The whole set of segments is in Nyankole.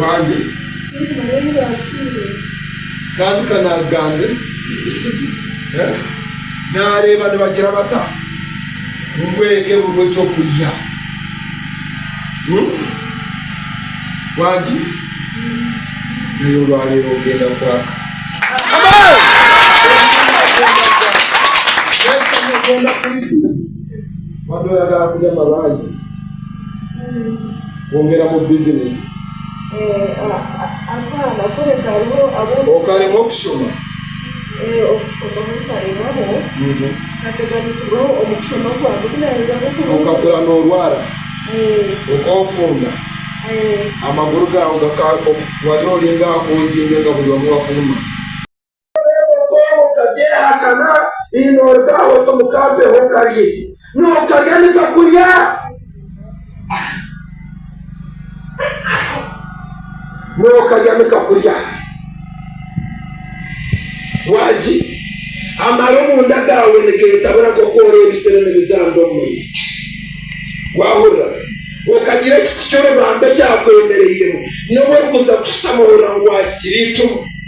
wange kandi kanagambe nareeba nibagira bata bubwege buriho ekyokurya wange naye olwareeba ogenda kwaka Amen. kwongeramu bizineesi. Okaremwa okushoma. Okakura noorwara. Okoofunda. Amaguru gaawe gakaba, wari ori nk'ahakuba ozingywe nka buri omwe wakuruma. Nooreeba okoora okabyehakana, ii Noorugaho ota omu kambeho okarye, Nookarya nikakurya. Nookarya nikakurya. Waagi, Amara omunda gaawe nigeetabura nk'oku oreebisa enimi z'ambi omu maizi. Waahurira? Okagira ekiti ky'orubambi ekyakwemereiremu, n'obu orikuza kushutama ohurira ngu waahikire eicumu.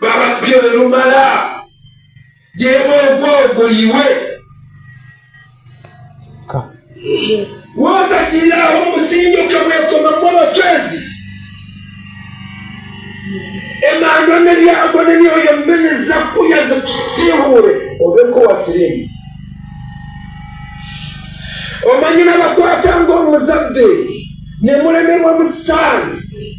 Bababyo erumara ry'emwe nk'ogwo iwe. Wootagiiraho omusingi okagwekomamu abacwezi, emandwa n'ebyago n'emyoyo mibi niza kurya zikusiihuure obe nk'owasiriimu. Omanyire abakwatanga omu zaabudeengi, nimuremerwa omu sitaani.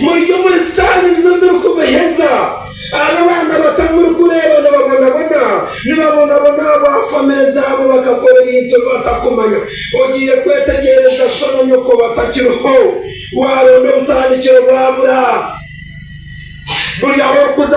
Muri omuri sitaani nizo zirikubeheza. Abo abaana bato murikureeba nibabonabona, nibabonabona ahabwa famire zaabo bakakora ebintu ebi batakumanya. Ogiire kwetegyereza sho na nyoko batakiriho. Waaronda obutandikiro bwabura buri ahu orikuza.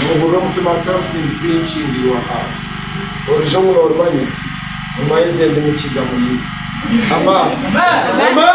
Noohurira omutima something pinching your heart Orije omu norimanya Guma eze ndi mukiga muriiwe Amen!